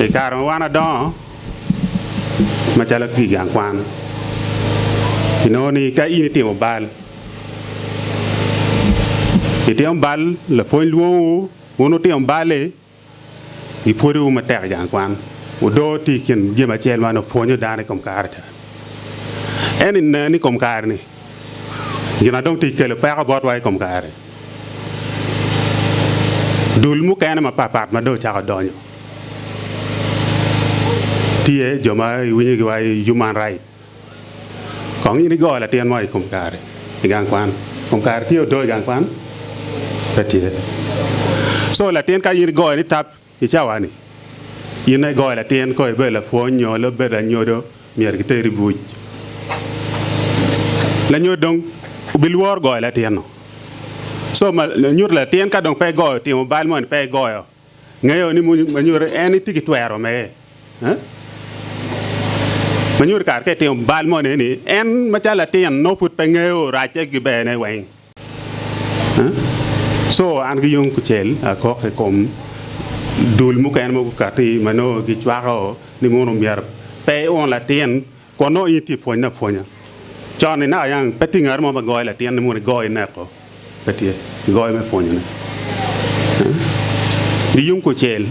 I kare ma wan adongo macalo atye i gang kwan, inongo ni ka in itimo bal, itimo bal lapwony lwongowu wun wutino bal-li, gipwodowu matek i gang kwan, wudoo tye i kin jami acel ma nongo pwonyo dano i kom kare-ni. Ento nen ni i kom kare-ni. gin ma dong tye ka kelo peko botwa i kom kare-ni. Dul mukene mapatpat ma dong ocako donyo tye jo ma iwinyogi wai human right. Kong in igo latin mo i kom kare i gang kwan? I kom kare tye odoo i gang kwan? Pe tye. So latin ka in igoyo ni tap. I cawa-ni, in ma igoyo latin kong ibedo lapwony nyo lub bedo anyodo myero kiteri buc. Lanyodo dong obilworo goyo latin-nu. Co ma nyuto latin ka dong pe igoyo timo bal moni pe igoyo ngeyo ni ma nyuto en itye ki twero me ma nyuto kare ka itimo bal moni ni en macalo latin nongo pud pe ngeyo racce ki berne weng. Co an ki yung kucel akok i kom dul mukene ma gukatti ma nongo gicwako ni mono myero pe iun latin kun nongo in itye ka pwonye apwonya. Con-ni naka yang pe tye ngat mo ma goyo latin ni mono igoyo ineko, pe tye, igoyo me pwonyone. Ki yung kucel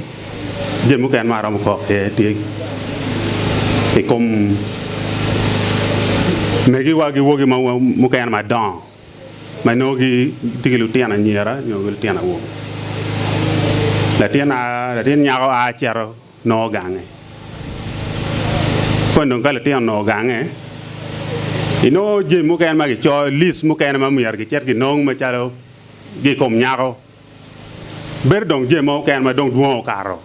jami mukene ma aromo kok iye tye i kom megiwa ki wogi mukene madongo. ma nongo gitye ki lutino anyira nyo lutino awobe. Latin a latin nyako a cito nongo gange. Koni dong ka lutino onongo gange, inongo jami mukene ma kicoyo, list mukene ma myero gicit ginong macalo gi i kom nyako. bedo dong jami mogo keken ma dong dwong okato.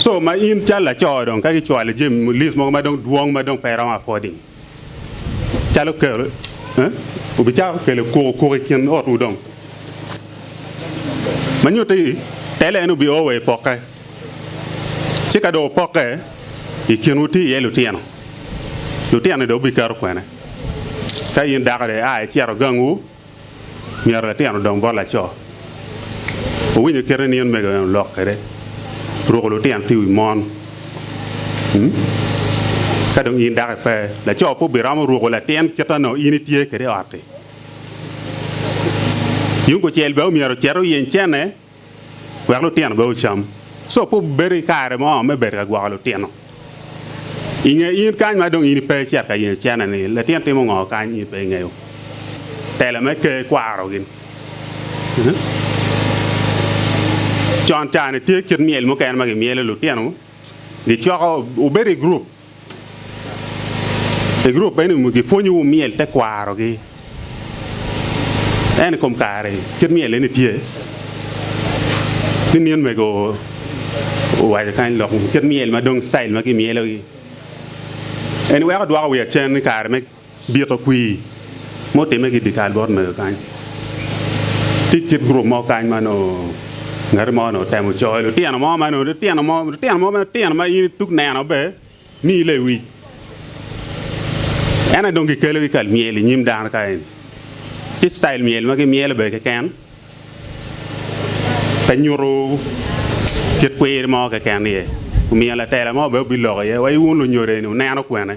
Co ma in calo laco dong ka gicwali jami list mogo ma dong dwong ma dong pe iromo afford-di, calo kelo, wubicako kelo kuku kuku i kin otwu dong. Ma nyutte i tela en wubi o wa i pokke, ci ka dong wupokke, i kinwu tye iye lutino, lutino-ni dong wubiketo kwene. Ka in dako dong ia icito gangwu, myero latin odong bot laco. Owinyo kite ni omego en olok kwede ruko lutino tye i wi mon. Ka dong in dako ipe, laco pe obiromo ruko latin kite nongo in itye kwede i ot-ti. Yung kucel bene omyero ocit oyeny cene. wek lutino bene ocam. Co pe obedo ki kare mo me bedo ka gwoko lutino. I nge in kany ma dong in ipe icito ka yenyo cene-ni, litino timo ngo kany in pe ingeyo? Telo me Ker kwaro gin. Con ca-ni tye kit myel mukene ma gimyelo lutino, gicoko, obedo i gurup. I gurup meno, gipwonyowu myel tekwarogi. Ento i kom kare, kit myel eni tye ni nino mego owaco kany lok kit myel ma dong citayil ma kimyelogi eni weko dwoko wiya cen i kare me Dito kwir ma otimme ki i dyekal bot mego kany, tye kit gurup mo kany ma onongo ngat mo onongo temo coyo lutino mo ma onongo litino mo litino mo matino ma in ituk neno be miyi lewic. Ento dong gikelogi kal myel inyim dano ka eni. Tye citayil myel ma gimyelo be keken pe nyuto kit kwir mo keken iye. Omiyo latela mo be obiloko iye wa iwun lunyodo eni wuneno kwene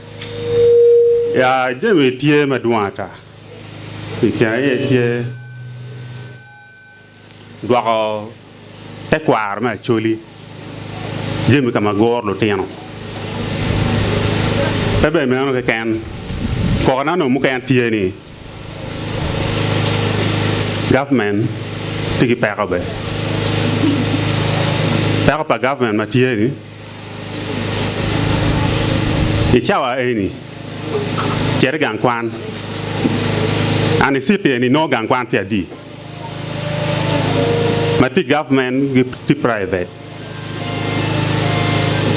Ya, jami tye madwong ata. I kine aye tye gwoko tekwaro me Acholi, jami ka ma guro lutino. Pe bene meno keken, koko na onongo mukene tye ni gavmen tye ki peko bene. Peko pa gavmen ma tye ni. I cawa eni, cit i gang kwan. An i citi eni nongo gang kwan pi adi ma ti government gi ti private.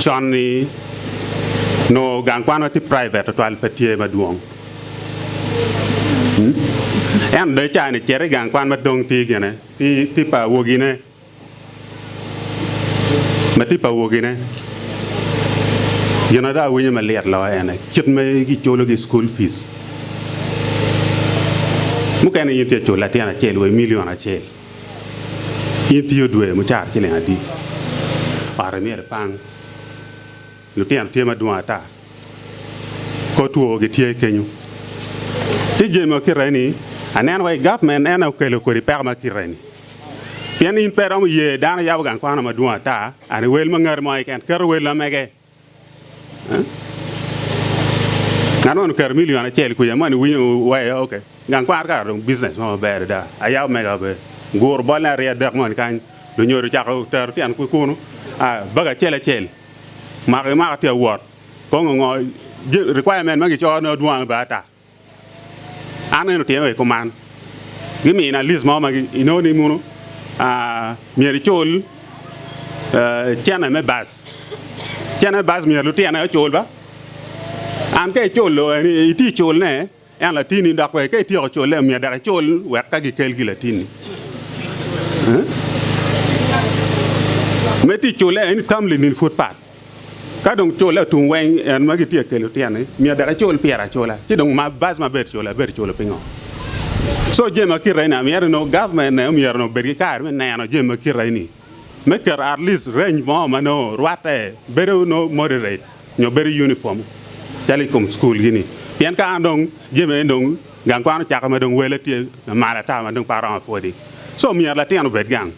Con ni nongo gang kwan ma ti private tutwal pe tye madwong ento dong i cawa ni cit i gang kwan madong ti gine ti pa awogine. ma tye pa wogine, gin ma dong awinyo malit loyo ene kit ma giculo gi school fees, mukene in tye ka culo latin acel wa i million acel, in tiyo dwe mucato ciling adi, ot myero ipang, lutino tye madwong ata, kor two gitye kenyo, ci jami ma kite eni aneno wa i government en aye okelo kwede peko ma kite eni. Pien in pe iromo ye dano yabo gang kwano madwong ata, an i wel ma ngati mo keken, keto wel na mege. Ngat man oketo milion acel kwica man iwinyo waya oke. Gang kwano kara dong business mo maber adada. Ayabo mega be. Guru bolne aryo adek moni kany. Lunyodo ocako tero tyen ki kunu. Baga acel acel. Mako ki mako tye awot. Kong ongo requirement ma gicoyo ne odwong adada ata. An eno tyene wa i kuman. Gimina list mo ma inongo ni muno myero icul cene me bus. Cene me bus myero lutyene ocul ba. An ka iculo en itye culne en latini dok bene ka ityeko cule myero dok icul wek ka gikelgi latini. Me tye cule en itamli ni pud pat. Ka dong cula otum weng, en ma gitye ka kelo tyen ni myero dok icul pire acula, ci dong ma bac ma bedo cula ibedo culu pingo? Co jami ma kite eni myero onongo government ne myero onongo bed ki kare me neno jami ma kite eni me keto at least range mo ma nongo rwatte bedo nongo moderate nyo bedo uniform calo i kom school gi ni pien ka an dong jami eni dong gang kwan ocako ma dong wele tye lamal ata ma dong pe aromo apwodi so myero latin obed gang.